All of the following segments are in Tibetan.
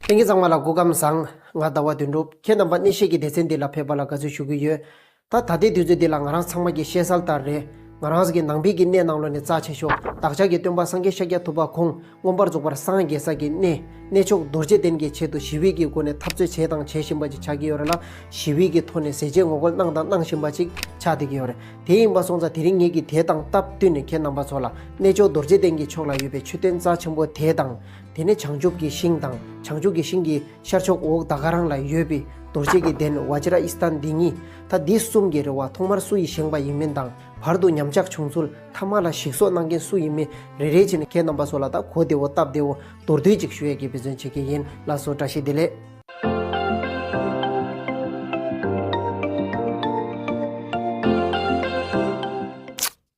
ལྷན་རྒྱས་ཚང་མ་ལ་སྒོ་སྐམ་བཟང། ང་ཟླ་བ་དོན་འགྲུབ་ཁྱེད་རྣམ་པ་གནས་བཤད་ཀྱི་སྡེ་ཚན་འདི་ལ་ཕེབས་པ་ལ་དགའ་ཚོད་ཞུ་གི་ཡོད། ད་ད་ལྟའི་དུས་ཚོད་འདི་ལ་ང་རང་ཚང་མ་གྱི་བཤད་གསལ་ལྟར་རེད། ང་རང་གིས་ནང་པའི་གྱི་གནས་ནང་ལོ་ནས་རྩ་ཆེ་ཤོག་བདག་ཅག་གི་སྟོན་པ་སངས་རྒྱས་ཤཱཀྱ་ཐུབ་པ་ཁོང་མངོན་པར་རྫོགས་པར་སངས་རྒྱས་ས་གྱི་གནས་གནས་མཆོག་རྡོ་རྗེ་གདན་གྱི་ཆེད་དུ་ཞི་བེད་ཀྱི་སྒོ་ནས་འཐབ་རྩོད་བྱས་དང་བྱེད་བཞིན་པ་ཅིག་ཆགས་ཀྱི་ཡོད་རེད་ལ་ཞི་བེད་ཀྱི་ཐོག་ནས་ཟས་བཅད་ངོ་རྒོལ་གནང་དང་གནང་བཞིན་པ་ཅིག་ཆགས་བསྡད་ཀྱི་ཡོད་རེད་དེ་ཡིན་པ་སོང་ཙང་དེ་རིང་ངེད་ཀྱིས་དེ་དང་སྟབས་བསྟུན་ནས་ཁྱེད་རྣམ་པ་ཚོ་ལ་གནས་མཆོག་རྡོ་རྗེ་གདན་གྱི་ཕྱོགས་ལ་ཡོད་པའི་མཆོད་རྟེན་རྩ་ཆེན་པོ་དེ་དང། དེ་ནས་བྱང་ཆུབ་ཀྱི་ཤིང་དང་བྱང་ཆུབ་ཀྱི་ཤིང་གི་ཤར་ཕྱོགས་འོག་ད་ག་རང་ལ་ཡོད་པའི་རྡོ་རྗེ་གི་གདན་བ་ཇི་ར་ཨི་སྟན་འདི་གཉིས་ད་འདི་གསུམ་གྱི་རེ་བ་ཐོག་མར་སུ་ཡིས་བཞེངས་པ་ཡིན་མིན་དང་བར་དུ་ཉམས་ཆག་བྱུང་ཚུལ་ཐ་མ་ལ་ཞིག་གསོ་གནང་མཁན་སུ་ཡིན་མིན་རེ་རེ་བྱས་ནས་ཁྱེད་རྣམ་པ་ཚོ་ལ་ད་གོ་བདེ་བོ་སྟབས་བདེ་བོ་མདོར་བསྡུས་ཅིག་ཞུ་ཡ་གྱི་འབད་བརྩོན་བྱེད་ཀྱི་ཡིན་ལགས་སོ་བཀྲ་ཤིས་བདེ་ལེགས།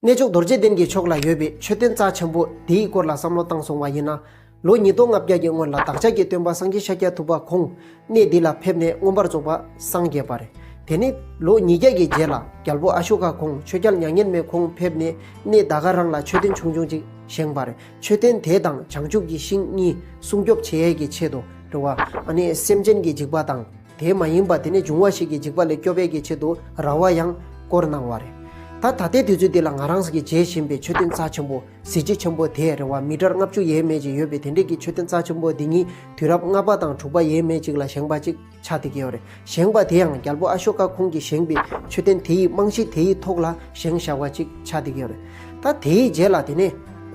གནས་མཆོག་རྡོ་རྗེ་གདན་གྱི་ཕྱོགས་ལ་ཡོད་པའི་མཆོད་རྟེན་རྩ་ཆེན་པོ་དེའི་སྐོར་ལ་བསམ་བློ་བཏང་སོང་བ་ཡིན་ན། ལོ་ཉིས་སྟོང་ལྔ་བརྒྱ་ཀྱི་སྔོན་ལ་བདག་ཅག་གི་སྟོན་པ་སངས་རྒྱས་ཤཱཀྱ་ཐུབ་པ་ཁོང་གནས་འདི་ལ་ཕེབས་ནས་མངོན་པར་རྫོགས་པ་སངས་རྒྱས་པ་རེད། དེ་ནས་ལོ་ཉིས་བརྒྱ་གྱི་རྗེས་ལ་རྒྱལ་པོ་ཨ་ཤོ་ཀ་ཁོང་ཆོས་རྒྱལ་མྱ་ངན་མེད་ཁོང་ཕེབས་ནས་གནས་ད་ག་རང་ལ་མཆོད་རྟེན་ཆུང་ཆུང་ཅིག་བཞེངས་པ་རེད། མཆོད་རྟེན་དེ་དང་བྱང་ཆུབ་ཀྱི་ཤིང་གཉིས་སྲུང་སྐྱོབ་བྱེད་ཡས་ཀྱི་ཆེད་དུ་རེད། བ་ཨ་ནི་སེམས་ཅན་གྱི་འཇིགས་པ་དང། དེ་མ་ཡིན་པ་དེ་ནི་འབྱུང་བ་ཞིག་གི་འཇིག་པ་ལས་སྐྱོབ་པའི་གི་ཆེད་དུ་ར་བ་ཡང་བསྐོར་གནང་བ་རེད། ད་ད་ལྟའི་དུས་ཚོད་འདི་ལ་ང་རང་གིས་མཇལ་བཞིན་པའི་ཆོས་དོན་རྩ་ཆེན་པོ་གཟི་བརྗིད་ཆེན་པོ་དེ་རེ་བ་མི་གྲར་ལྔ་བཅུ་ཡས་མས་ཀྱི་ཡོད་པའི་དེ་འབྲེལ་གྱི་ཆོས་དོན་རྩ་ཆེན་པོ་འདི་ཉིད་དུས་རབས་ལྔ་པ་དང་དྲུག་པ་ཡས་མས་ཅིག་ལ་བཞེངས་པ་ཅིག་ཆགས་ཏེ་གིའོ་རེད་བཞེངས་པ་དེ་ཡང་རྒྱལ་པོ་ཨ་ཤོ་ཀ་ཁོང་གིས་བཞེངས་པའི་ཆོས་དོན་དེ་ཡི་རྨང་གཞི་དེ་ཡི་ཐོག་ལ་བཞེངས་བཞག་པ་ཅིག་ཆགས་ཏེ་གིའོ་རེད། ད་དེའི་རྗེས་ལ་དེ་ནས་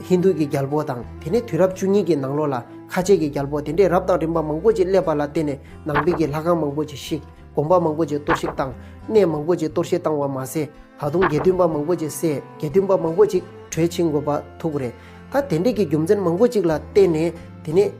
ཧིན་དྷུ་གྱི་རྒྱལ་པོ་དང་དེ་ནས་དུས་རབས་བཅུ་གཉིས་ཀྱི་ནང་ལོགས་ལ་ཁ་ཆེ་གྱི་རྒྱལ་པོ་དེ་འདྲས་རབས་དང་རིམ་པ་མང་པོ་ཅིག་སླེབས་པ་ལ་བརྟེན་ནས་ནང་པའི་ཀྱི་ལྷ་ཁང་མང་པོ་ཅིག་བཤིག། དགོན་པ་མང་པོ་ཅིག་གཏོར་བཤིག་བཏང། གནས་མང་པོ་ཅིག་གཏོར་བཤིག་བཏང་བ་མ་ཟད། ད་དུང་དགེ་འདུན་པ་མང་པོ་ཅིག་བསད། དགེ་འདུན་པ་མང་པོ་ཅིག་བྲོས་ཕྱིན་དགོས་པ་ཐུག་རེད། ད་དེ་འབྲེལ་གྱི་རྒྱུ་མཚན་མང་པོ་ཅིག་ལ་བརྟེན་ནས། དེ་ནས།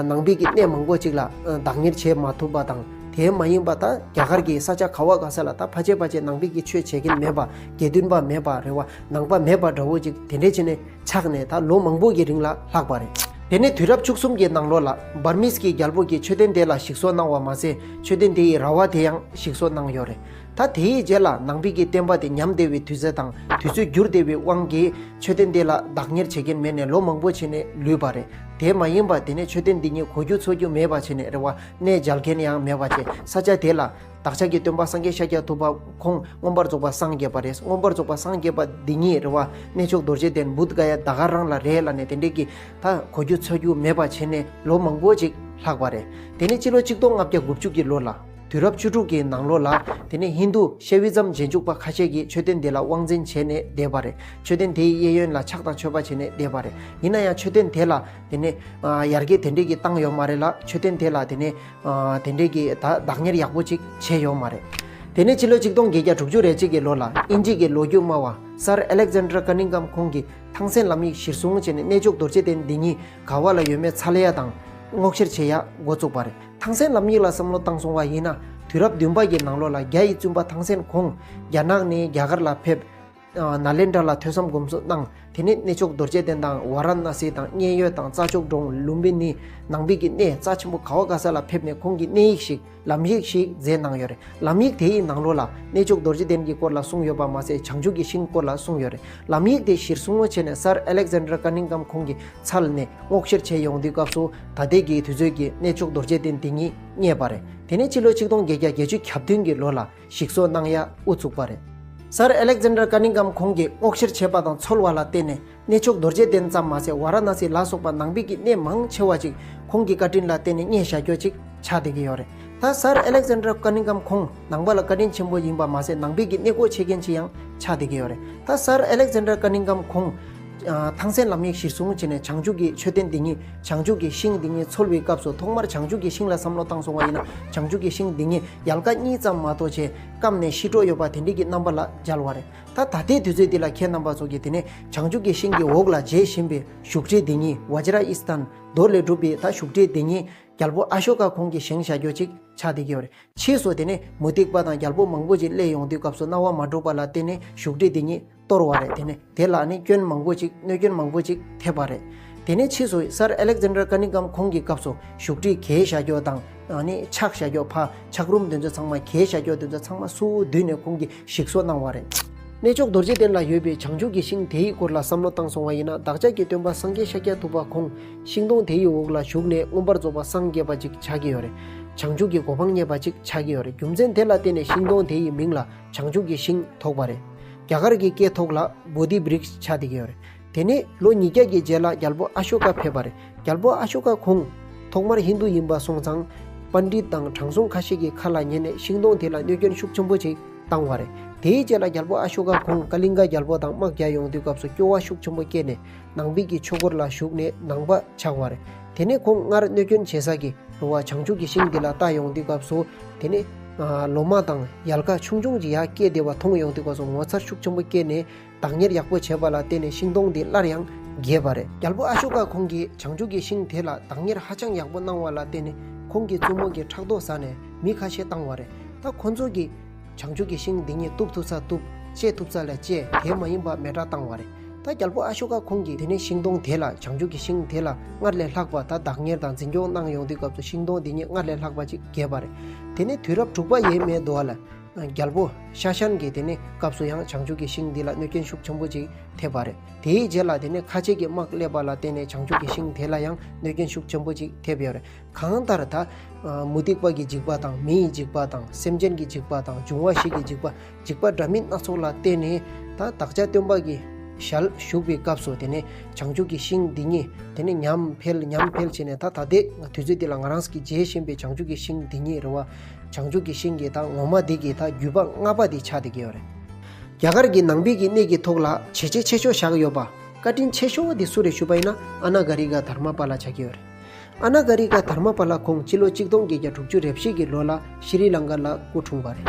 ནང་པའི་ཀྱི་གནས་མང་པོ་ཅིག་ལ་བདག་གཉེར་བྱེད་མ་ཐུབ་པ་དང། དེའི་མ་ཡིན་པ་ད་རྒྱ་གར་གྱི་ས་ཆ་ག་བ་ག་ས་ལ་ད་ཕ་ཆེ་ཕ་ཆེ་ནང་པའི་ཀྱི་ཆོས་བྱེད་མཁན་མེད་པ། དགེ་འདུན་པ་མེད་པ་རེ་བ་ནང་པ་མེད་པ་འདྲ་བོ་ཅིག་དེ་འདྲས་བྱས་ནས། ཆགས་ནས་ད་ལོ་མང་པོ་ཡི་རིང་ལ་ལྷག་པ་རེད། དེ་ནས་དུས་རབས་བཅུ་གསུམ་གྱི་ནང་ལོ་ལ་འབར་མིས་ཀྱིས་རྒྱལ་པོ་གྱི་མཆོད་རྟེན་དེ་ལ་ཞིག་གསོ་གནང་བ་མ་ཟད་མཆོད་རྟེན་དེ་ཡི་ར་བ་དེ་ཡང་ཞིག་གསོ་གནང་ཡོད་རེད། ད་དེ་ཡི་རྗེས་ལ་ནང་པིག་གི་བསྟན་པ་དེ་ཉམས་བདེ་བའི་དུས་ཚོད་དང་དུས་ཚོད་འགྱུར་བདེ་བའི་དབང་གིས་མཆོད་རྟེན་དེ་ལ་བདག་གཉེར་བྱེད་མཁན་མེད་ནས་ལོ་མང་པོ་ཕྱིན་ནས་ལུས་པ་རེད། དེ་མ་ཡིན་པར་དེ་ནས་མཆོད་རྟེན་འདི་ཉིད་གོ་རྒྱུ་འཚོ་རྒྱུ་མེད་པ་བྱས་ནས་རེ་བ་གནས་འཇལ་མཁན་ཡང་མེད་པ་བཅས་ས་ཆ་དེ་ལ་བདག་ཅག་གི་སྟོན་པ་སངས་རྒྱས་ཤཱཀྱ་ཐུབ་པ་ཁོང་མངོན་པར་རྫོགས་པར་སངས་རྒྱས་པ་རེད་མངོན་པར་རྫོགས་པར་སངས་རྒྱས་པ་འདི་ཉིད་རེ་བ་གནས་མཆོག་རྡོ་རྗེ་གདན་བུདྡྷ་ཀ་ཡ་ད་ག་རང་ལ་རེད་ལ་ནས་དེ་འདྲས་ཀྱི་ད་གོ་རྒྱུ་ཚོལ་རྒྱུ་མེད་པ་བྱས་ནས་ལོ་མང་པོ་ཅིག་ལྷག་པ་རེད་དེ་ནས་སྤྱི་ལོ་གཅིག་སྟོང་ལྔ་བརྒྱ་དགུ་བཅུ་གྱི་ལོ་ལ། དུས་རབས་བཅུ་དྲུག་གི་ནང་ལོ་ལ་དེ་ནས་ཧིན་རྡུ་ཤའི་དབུས་གཙང་རྗེས་འཇུག་པ་ཁ་ཤས་ཀྱིས་མཆོད་རྟེན་དེ་ལ་དབང་འཛིན་བྱས་ནས་བསྡད་པ་རེད་མཆོད་རྟེན་དེའི་གཡས་གཡོན་ལ་ཕྱག་དང་མཆོད་པ་བྱས་ནས་བསྡད་པ་རེད་ཡིན་ན་ཡང་མཆོད་རྟེན་དེ་ལ་དེ་ནས་ཡར་རྒྱས་དེ་འདྲས་ཀྱི་བཏང་ཡོད་མ་རེད་ལ་མཆོད་རྟེན་དེ་ལ་དེ་ནས་དེ་འདྲས་ཀྱི་ད་བདག་གཉེར་ཡག་པོ་ཅིག་བྱས་ཡོད་མ་རེད། དེ་ནས་ཕྱི་ལོ་ཆིག་སྟོང་བརྒྱད་བརྒྱ་དྲུག་ཅུ་རེ་གཅིག་གི་ལོ་ལ་དབྱིན་ཇིས་ཀྱི་ལོ་རྒྱུས་སྨྲ་བ Sir Alexander Cunningham ཁོང་གིས་ཐང་སན་ལམ་ཡིག་གཞིར་བཟུང་བྱས་ནས་གནས་མཆོག་རྡོ་རྗེ་གདན་འདི་ཉིད་ག་བ་ལ་ཡོད་མེད་ཚ་ལེ་ཡ་དང། སྔོག་བཤེར་བྱེད་ཡག་འགོ་བཙུགས་པ་རེད། ཐང་སན་ལམ་ཡིག་ལ་བསམ་བློ་བཏང་སོང་བ་ཡིན་ན་དུས་རབས་བདུན་པ་ཀྱི་ནང་ལོ་ལ་རྒྱ་ཡི་བཙུན་པ་ཐང་སན་ཁོང་རྒྱ་ནག་ནས་རྒྱ་གར་ལ་ཕེབས། ནཱ་ལེནྡྲ་ལ་ཐོས་བསམ་སྒོམ་གསུམ་གནང། དེ་ནས་གནས་མཆོག་རྡོ་རྗེ་གདན་དང་ཝཱ་ར་ན་སི་དང་མཉན་ཡོད་དང་རྩྭ་མཆོག་འབྲོང་ལུམྦི་ནི་ནང་པི་ཀི་གནས་རྩྭ་ཆེན་པོ་ག་ཝ་ག་ས་ལ་ཕེབས་ནས་ཁོང་གིས་གནས་ཡིག་ཞིག་ལམ་ཡིག་ཞིག་མཛད་གནང་ཡོད་རེད་ལམ་ཡིག་དེ་ཡི་ནང་རོ་ལ་གནས་མཆོག་རྡོ་རྗེ་གདན་གྱི་སྐོར་ལ་གསུངས་ཡོད་པ་མ་ཟད་བྱང་ཆུབ་ཀྱི་ཤིང་སྐོར་ལ་གསུངས་ཡོད་རེད་ལམ་ཡིག་དེ་གཞིར་བཟུང་ངོ་ཆེ་ནས་སར་ཨེ་ལེག་ཟན་དྲ་ཀ་ནིང་གམ་ཁོང་གི་ཚལ་ནས་སྔོག་བཤེར་བྱས་ཡོང་དུས་སྐབས་སུ་ད་ལྟའི་གི་དུས་ཚོད་ཀྱི་གནས་མཆོག་རྡོ་རྗེ་གདན་དེ་ཉིད་རྙེད་པ་རེད་དེ་ནས་ཕྱི་ལོ་ཆིག་སྟོང་བརྒྱད་བརྒྱ་བརྒྱད་ཅུ་གྱ་བདུན་གྱི་ལོ་ལ། ཞིག་གསོ་གནང་ཡག་དབུ་བཙུགས་པ་རེད། སར་ཨེ་ལེག་ཛན་དར་ཀ་ནིང་གམ་ཁོང་གིས་སྔོག་བཤེར་བྱས་པ་དང་འཚོལ་བ་ལ་བརྟེན་ནས་གནས་མཆོག་རྡོ་རྗེ་གདན་ཙམ་མ་ཟད་བྷ་ར་ན་སི་ལ་སོགས་པ་ནང་དཔེ་ཀྱི་གནས་མང་ཆེ་བ་ཅིག་ཁོང་གི་བཀའ་དྲིན་ལ་བརྟེན་ནས་རྙེད་བཞག་རྒྱོ་ཅིག་ཆགས་བསྡད་ཀྱི་ཡོད་རེད། ད་སར་ཨེ་ལེག་ཛན་དར་ཀ་ནིང་གམ་ཁོང་ནང་པ་ལ་བཀའ་དྲིན་ཆེན་པོ་ཡིན་པ་མ་ཟད་ནང་དཔེ་ཀྱི་གནས་སྒོ་ཕྱེས་མཁན་ཅིག་ཡང་ཆགས་བསྡད་ཀྱི་ཡོད་རེད། ད་སར་ཨེ་ལེག་ཛན་དར་ཀ་ནིང་གམ་ཁོང་ཐང་སན་ལམ་ཡིག་གཞིར་བཟུང་བྱས་ནས་བྱང་ཆུབ་ཀྱི་མཆོད་རྟེན་འདི་ཉིད་བྱང་ཆུབ་ཀྱི་ཤིང་འདི་ཉིད་འཚོལ་བའི་སྐབས་སུ་ཐོག་མར་བྱང་ཆུབ་ཀྱི་ཤིང་ལ་བསམ་བློ་བཏང་སོང་བ་ཡིན་ན་བྱང་ཆུབ་ཀྱི་ཤིང་འདི་ཉིད་ཡལ་ག་གཉིས་ཙམ་མ་གཏོགས་ཆེས་སྐམ་ནས་ཤི་འགྲོ་ཡོད་པ་དེ་འདྲི་གི་རྣམ་པ་ལ་སྦྱར་བ་རེད་ད་ད་ལྟའི་དུས་ཚོད་འདི་ལ་ཁྱེད་རྣམ་པ་ཚོ་གི་དེ་ནས་བྱང་ཆུབ་ཀྱི་ཤིང་གི་འོག་ལ་མཇལ་བཞིན་པའི་བཞུགས་ཁྲི་འདི་ཉིད་བ་ཇི་ར་ཨིས་ཐན་རྡོ་ལས་གྲུབ་པའི་ད་བཞུགས་ཁྲི་འདི་ཉིད་རྒྱལ་པོ་ཨ་ཤོ་ཀ་ཁོང་གི་བཞེངས་བཞག་རྒྱོ་ཅིག་ཆ་སྡེ་དགེ་བ་རེད་ཕྱིས་སུ་དེ་ནས་མུ་སྟེགས་པ་དང་རྒྱལ་པོ་མང་པོ་ཅིག་སླེས་ཡོང་དུས་སྐབས་སུ་རྣ་བ་མ་དྲུག་པ་ལ་བརྟེན་ནས་བཞུགས་ཁྲི་འདི་ཉིད་གཏོར་བ་རེད་དེ་ནས་དེ་ལ་ནི་སྐྱོན་མང་པོ་ཅིག་གནོད་སྐྱོན་མང་པོ་ཅིག་ཐེབས་པ་རེད། དེ་ནས་ཕྱིས་སུ་སར་ཨེ་ལེག་ཟན་དྲར་ཀ་ནི་ཀམ་ཁོང་གི་སྐབས་སུ་བཞུགས་ཁྲི་གས་བྱ་རྒྱོགས་དང་ནི་ཕྱག་བྱ་རྒྱོགས་ཕ་ཕྱག་རུམ་དེ་ཚོ་ཚང་མ་གས་བྱ་རྒྱོགས་དེ་ཚོ་ཚང་མ་སུའུ་བསྡུས་ནས་ཁོང་གིས་ཞིག་གསོ་གནང་བ་རེད། གནས་མཆོག་རྡོ་རྗེ་གདན་ལ་ཡོད་པའི་བྱང་ཆུབ་ཀྱི་ཤིང་དེའི་སྐོར་ལ་བསམ་བློ་བཏང་སོང་བ་ཡིན་ན་བདག་ཅག་གི་སྟོན་པ་སངས་རྒྱས་ཤཱཀྱ་ཐུབ་པ་ཁོང་ཤིང་སྡོང་དེའི་འོག་ལ་བཞུགས་ནས་མངོན་པར་རྫོགས་པ་སངས་རྒྱས་པ་ཅིག་ཆགས་ཀྱི་ཡོད་རེད། བྱང་ཆུབ་ཀྱི་གོ་འཕང་རྙེད་པ་ཅིག་ཆགས་ཀྱི་ཡོད་རེད་རྒྱུ་མཚན་དེ་ལ་བརྟེན་ནས་ཤིང་སྡོང་དེའི་མིང་ལ། བྱང་ཆུབ་ཀྱི་ཞིང་ཐོགས་པ་རེད། རྒྱ་གར་གྱི་སྐད་ཐོག་ལ Bodhi Briks བྱ་དེ་གའི་རེད། དེ་ནས་ལོ་ཉིས་བརྒྱ་ཀྱི་རྗེས་ལ་རྒྱལ་པོ་ཨ་ཤོ་ཀ་ཕེབས་པ་རེད། རྒྱལ་པོ་ཨ་ཤོ་ཀ་ཁོང། ཐོག་མར་ཧིན་དུ་ཡིན་པ་སོང་ཙང། Pandit དང་དྲང་སྲོང་ཁ་ཤས་ཀྱི་ཁ་ལ་ཉན་ནས་ཤིང་སྡོང་དེ་ལ་གནོད་སྐྱོན་ཤུགས་ཆེན་པོ་ཅིག་བཏང་བ་རེད། དེའི་རྗེས་ལ་རྒྱལ་པོ་ཨ་ཤོ་ཀ་ཁོང་ཀ་ལིང་ག་རྒྱལ་པོ་དང་དམག་རྒྱག་ཡོང་དུས་སྐབས་སུ་སྐྱོ་བ་ཤུགས་ཆེན་པོ་སྐྱེས་ནས། ནང་དཔལ་གྱི་ཆོས་སྐོར་ལ་ཞུགས་ནས་ནང་པ་ཆགས་པར། དེ་ནས་ཁོང་སྔར་གནོད་སྐྱོན་བྱེད་ས་ཀྱི་རུ་བ་བྱང་ཆུབ་ཀྱི་ཤིང་དེ་ལ་ལྟ་ཡོང་དུས་སྐབས་སུ། དེ་ནས། ལོ་མ་དང་ཡལ་ག་ཆུང་ཆུང་ཅིག་ཡར་སྐྱེས་བདེ་བ་མཐོང་ཡོང་དུས་སྐབས་སུ་ངོ་མཚར་ཤུགས་ཆེན་པོ་སྐྱེས་ནས་བདག་གཉེར་ཡག་པོ་བྱས་པ་ལ་བརྟེན་ནས་ཤིང་སྡོང་འདི་སླར་ཡང་རྒྱས་པ་རེད། རྒྱལ་པོ་ཨ་ཤོ་ཀ་ཁོང་གིས་བྱང་ཆུབ་ཀྱི་ཤིང་དེ་ལ་བདག་གཉེར་ཧ་ཅང་ཡག་པོ་གནང་བ་ལ་བརྟེན་ནས་ཁོང་གི་བཙུན་མོ་གིས་ཕྲག་དོག་ཟ་ནས་མི་ཁ་ཤས་བཏང་བ་རེད། ད་ཁོ་ཚོ་གིས། བྱང་ཆུབ་ཀྱི་ཤིང་འདི་ཉིད་གཏུབ་ཐུབ་ཚ་གཏུབ། བཅད་ཐུབ་ཚ་ལས་བཅད་དེ་མ་ཡིན་པར་མེ་དགྲ་བཏང་བ་རེད། ད་རྒྱལ་པོ་ཨ་ཤོ་ཀ་ཁོང་གིས་དེ་ནས་ཤིང་སྡོང་དེ་ལ་བྱང་ཆུབ་ཀྱི་ཤིང་དེ་ལ་སྔར་ལས་ལྷག་པ་ད་བདག་གཉེར་དང་འཛིན་སྐྱོང་གནང་ཡོང་དུས་སྐབས་སུ་ཤིང་སྡོང་འདི་ཉིད་སྔར་ལས་ལྷག་པ་ཅིག་རྒྱས་པ་རེད། དེ་ནས་དུས་རབས་དྲུག་པ་ཡས་མས་དུ་ལ། རྒྱལ་པོ་ཤ་ཤན་གྱིས་དེ་ནས་སྐབས་སུ་ཡང་བྱང་ཆུབ་ཀྱི་ཤིང་འདི་ལ་གནོད་སྐྱོན་ཤུགས་ཆེན་པོ་ཅིག་ཐེབས་པ་རེད། དེའི་རྗེས་ལ་དེ་ནས་ཁ་ཆེ་གི་དམག་སླེབས་པ་ལ་བརྟེན་ནས་བྱང་ཆུབ་ཀྱི་ཤིང་དེ་ལ་ཡང་གནོད་སྐྱོན་ཤུགས་ཆེན་པོ་ཅིག་ཐེབས་ཡོད་རེད། གང་ལྟར་ད། མུ་སྟེགས་པ་གི་འཇིགས་པ་དང་མི་ཡི་འཇིགས་པ་དང་སེམས་ཅན་གྱི་འཇིགས་པ་དང་འབྱུང་བ་ཞིག་གི་འཇིགས་པ་འཇིགས་པ་འདྲ་མིན་སྣ་ཚོགས་ལ་བརྟེན་ནས། ད་བདག་ཅག་སྟོན་པ་གྱི་ཞལ་བཞུགས་པའི་སྐབས་སུ་དེ་ནས་བྱང་ཆུབ་ཀྱི་ཤིང་འདི་ཉིད་དེ་ནས་ཉམས་འཕེལ་ཉམས་འཕེལ་བྱས་ནས་ད་ད་ལྟའི་དུས་ཚོད་འདི་ལ་ང་རང་གིས་མཇལ་བཞིན་པའི་བྱང་ཆུབ་ཀྱི་ཤིང་འདི་ཉིད་རེད་བ། བྱང་ཆུབ་ཀྱི་ཤིང་གི་ད་ངོ་མ་འདི་གི་ད་བརྒྱུད་པ་ལྔ་པ་འདི་ཆ་དེ་གི་རེད། རྒྱ་གར་གྱི་ནང་པའི་གི་གནས་ཀྱི་ཐོག་ལ་བྱེད་ཆས་ཆེ་ཤོས་བཞག་ཡོད་པ། བཀའ་དྲིན་ཆེ་ཤོས་དེ་སུ་རེད་ཞུས་པ་ཡིན་ན་ཨ་ན་གྷ་རི་ག་དྷརྨ་པཱ་ལ་ཆ་གི་རེད། ཨ་ན་ཀ་རི་ཀ་དྷར་མ་པ་ལ་ཁོང་སྤྱི་ལོ་གཅིག་སྟོང་བརྒྱད་བརྒྱ་དྲུག་ཅུ་རེ་བཞི་གི་ལོ་ལ་ཤི་རི་ལང་ཀ་ལ་སྐུ་འཁྲུངས་པ་རེད།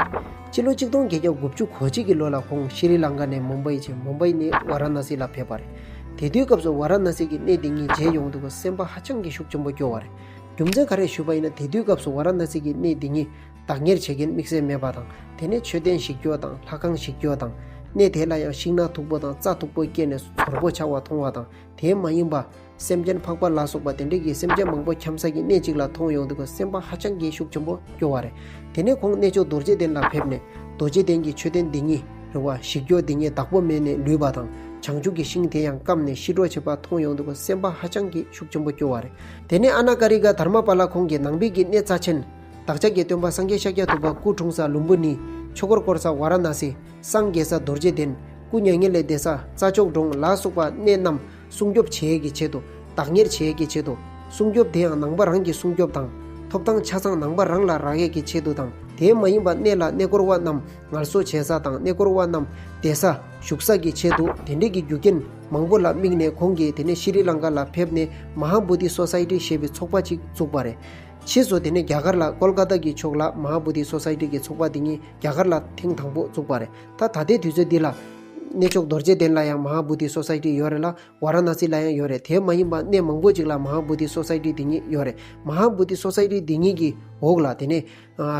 སྤྱི་ལོ་གཅིག་སྟོང་བརྒྱད་བརྒྱ་དགུ་བཅུ་གོ་གཅིག་གི་ལོ་ལ་ཁོང་ཤི་རི་ལང་ཀ་ནས་མུམ་བྷཱི་བཅས་མུམ་བྷཱི་ནས་བཱ་ར་ནཱ་སི་ལ་ཕེབས་པ་རེད། དེ་དུས་སྐབས་སུ་བཱ་ར་ནཱ་སི་གི་གནས་འདི་ཉིད་མཇལ་ཡོང་འདུག་པ་སེམས་པ་ཧ་ཅང་གི་ཤུགས་ཆེན་པོ་སྐྱོ་བ་རེད། རྒྱུ་མཚན་ག་རེ་ཞུས་པ་ཡིན་ན་དེ་དུས་སྐབས་སུ་བཱ་ར་ནཱ་སི་གི་གནས་འདི་ཉིད་བདག་གཉེར་བྱེད་མཁན་དམིགས་བསལ་མེད་པ་དང་དེ་ནས་མཆོད་རྟེན་ཞིག་སྐྱོ་དང་ལྷ་ཁང་ཞིག་སྐྱོ་དང། གནས་དེ་ལ་ཡང་ཤིང་ནགས་མཐུག་པོ་དང་རྩྭ་མཐུག་པོ་སྐྱེས་ནས་ཟོར་པོ་ཆགས་བ་མཐོང་བ་དང་དེའི་མ་ཡིན་པ། སེམས་ཅན་འཕགས་པ་ལ་སོགས་པ་དེ་འདྲས་ཀྱིས་སེམས་ཅན་མང་པོ་འཁྱམས་ས་ཀྱི་གནས་གཅིག་ལ་མཐོང་ཡོང་དུས་སེམས་པ་ཧ་ཅང་གི་ཤུགས་ཆེན་པོ་སྐྱོ་བ་རེད། དེ་ནས་ཁོང་གནས་མཆོག་རྡོ་རྗེ་གདན་ལ་ཕེབས་ནས། རྡོ་རྗེ་གདན་གྱི་མཆོད་རྟེན་འདི་ཉིད། རེ་བ་བཞི་སྐྱོ་འདི་ཉིད་བདག་པོ་མེད་ནས་ལུས་པ་དང། བྱང་ཆུབ་ཀྱི་ཤིང་དེ་ཡང་བསྐམས་ནས་ཤི་གྲོགས་བྱེད་པ་མཐོང་ཡོང་དུས་སེམས་པ་ཧ་ཅང་གི་ཤུགས་ཆེན་པོ་སྐྱོ་བ་རེད། དེ་ནས་ཨ་ན་ཀ་རི་ཀ་དྷརྨ་པ་ལ་ཁོང་གིས་ནང་དཔལ་གྱི་གནས་རྩ་ཆེན། བདག་ཅག་གི་སྟོན་པ་སངས་རྒྱས་ཤཱཀྱ་ཐུབ་པ་སྐུ་འཁྲུངས་ས་ལུམ་བུ་ནི། ཆོས་འཁོར་བསྐོར་ས་ཝཱ་ར་ན་སི། སངས་རྒྱས་ས་རྡོ་རྗེ་གདན། སྐུ་མྱ་ངན་ལས་འདས་ས་རྩྭ་མཆོག་འབྲོང་ལ་སོགས་པ་གནས་རྣམས། སྲུང་སྐྱོབ་བྱེད་ཀྱི་ཆེད་དུ། བདག་གཉེར་བྱེད་ཀྱི་ཆེད་དུ། སྲུང་སྐྱོབ་དེ་ཡང་ནང་པ་རང་གིས་སྲུང་སྐྱོབ་དང། ཐོབ་ཐང་ཆ་ཚང་ནང་པ་རང་ལ་རག་ཡས་ཀྱི་ཆེད་དུ་དང་དེའི་མ་ཡིན་པ་གནས་ལ་གནས་སྐོར་བ་རྣམས་ངལ་གསོ་བྱེད་ས་དང་གནས་སྐོར་བ་རྣམས་བསྡད་ས་བཞུགས་ས་ཀྱི་ཆེད་དུ་དེ་འབྲེལ་གྱི་རྒྱུ་རྐྱེན་མང་པོ་ལ་དམིགས་ནས་ཁོང་གིས་དེ་ནས་ཤི་རི་ལང་ཀ་ལ་ཕེབས་ནས Maha Bodhi Society ཞེས་པའི་ཚོགས་པ་ཅིག་བཙུགས་པ་རེད། ཕྱིས་སུ་དེ་ནས་རྒྱ་གར་ལ Kolkata གི་ཕྱོགས་ལ Maha Bodhi Society གྱི་ཚོགས་པ་འདི་ཉིད་རྒྱ་གར་ལ་ཐེངས་དང་པོ་བཙུགས་པ་རེད། ད་ད་ལྟའི་དུས་ཚོད་འདི་ལ། གནས་མཆོག་རྡོ་རྗེ་གདན་ལ་ཡང་མ་ཧཱ་བྷུ་ཏི་སོ་སའི་ཏི་ཡོད་རེད་ལ། བཱ་ར་ན་སི་ལ་ཡང་ཡོད་རེད་དེ་མ་ཡིན་པར་གནས་མང་པོ་ཅིག་ལ་མ་ཧཱ་བྷུ་ཏི་སོ་སའི་ཏི་འདི་གཉིས་ཡོད་རེད། མ་ཧཱ་བྷུ་ཏི་སོ་སའི་ཏི་འདི་གཉིས་ཀྱི་འོག་ལ་དེ་ནས།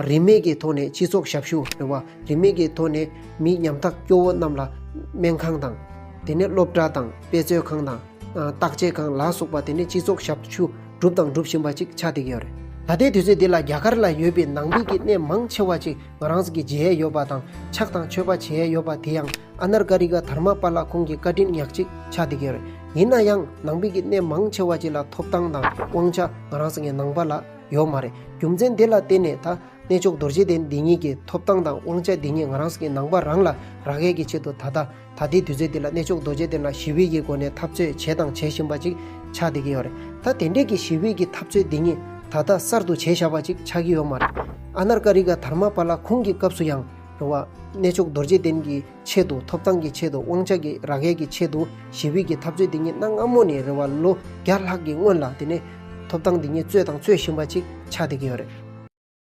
རིན་མེད་ཀྱི་ཐོག་ནས་སྤྱི་ཚོགས་ཞབས་ཞུ་རེད་བ། རིན་མེད་ཀྱི་ཐོག་ནས་མི་ཉམ་ཐག་སྐྱོ་བོ་རྣམས་ལ། སྨན་ཁང་དང། དེ་ནས་སློབ་གྲྭ་དང་དཔེ་མཛོད་ཁང་དང། བརྟག་དཔྱད་ཁང་ལ་སོགས་པ་དེ་ནས་སྤྱི་ཚོགས་ཞབས་ཞུ་བསྒྲུབས་དང་སྒྲུབ་བཞིན་པ་ཅིག་ཆགས་བསྡད་ཀྱི་ཡོད་རེད། ད་ལྟའི་དུས་ཚོད་འདི་ལ་རྒྱ་གར་ལ་ཡོད་པའི་ནང་པའི་གི་གནས་མང་ཆེ་བ་ཅིག། རང་གི་བརྗེད་ཡས་ཡོད་པ་དང་ཕྱག་དང་མཆོད་པ་བྱེད་ཡས་ཡོད་པ་དེ་ཡང་ཨ་ནར་ཀ་རི་ཀ་དྷར་མ་པཱ་ལ་ཁོང་གི་བཀའ་དྲིན་ཉག་གཅིག་ཆགས་འདི་གའི་རེད། ཡིན་ན་ཡང་ནང་པའི་གི་གནས་མང་ཆེ་བ་གཅིག་ལ་ཐོབ་ཐང་དང་དབང་ཆ་ང་རང་གི་ནང་པ་ལ་ཡོད་མ་རེད་རྒྱུ་མཚན་དེ་ལ་བརྟེན་ནས་ད་གནས་མཆོག་རྡོ་རྗེ་གདན་འདི་ཉིད་ཀྱི་ཐོབ་ཐང་དང་དབང་ཆ་འདི་ཉིད་ང་རང་གི་ནང་པ་རང་ལ་རག་ཡས་ཀྱི་ཆེད་དུ་ད་ལྟ། ད་ལྟའི་དུས་ཚོད་འདི་ལ་གནས་མཆོག་རྡོ་རྗེ་གདན་ལ་ཞི་བའི་ཀྱི་སྒོ་ནས་འཐབ་རྩོད་བྱས་དང་བྱེད་བཞིན་པ་ཅིག་ཆགས་བསྡད་ཀྱི་ཡོད་རེད། ད་དེ་འདྲའི་ཀྱི་ཞི་བའི་ཀྱི་འཐབ་རྩོད་འདི་ཉིད་ད་ལྟ་གསར་དུ་བྱས་བཞག་པ་ཅིག་ཆགས་ཀྱི་ཡོད་མ་རེད། ཨ་ནར་ཀ་རི་ཀ་དྷར་མ་པ་ལ་ཁོང་གི་སྐབས་སུ་ཡང། རེད་བ། གནས་མཆོག་རྡོ་རྗེ་གདན་གྱི་ཆེད་དུ་ཐོབ་ཐང་གི་ཆེད་དུ་དབང་ཆ་གྱི་རགས་ཡས་ཀྱི་ཆེད་དུ་ཞི་བའི་ཀྱི་འཐབ་རྩོད་འདི་ཉིད་གནའ་སྔ་མོ་ནས་རེད་བ་ལོ་བརྒྱ་ལྷག་གི་སྔོན་ལ་དེ་ནས། ཐོབ་ཐང་འདི་ཉིད་རྩོད་དང་རྩོད་བཞིན་པ་ཅིག་ཆགས་བསྡད་ཀྱི་ཡོད་རེད།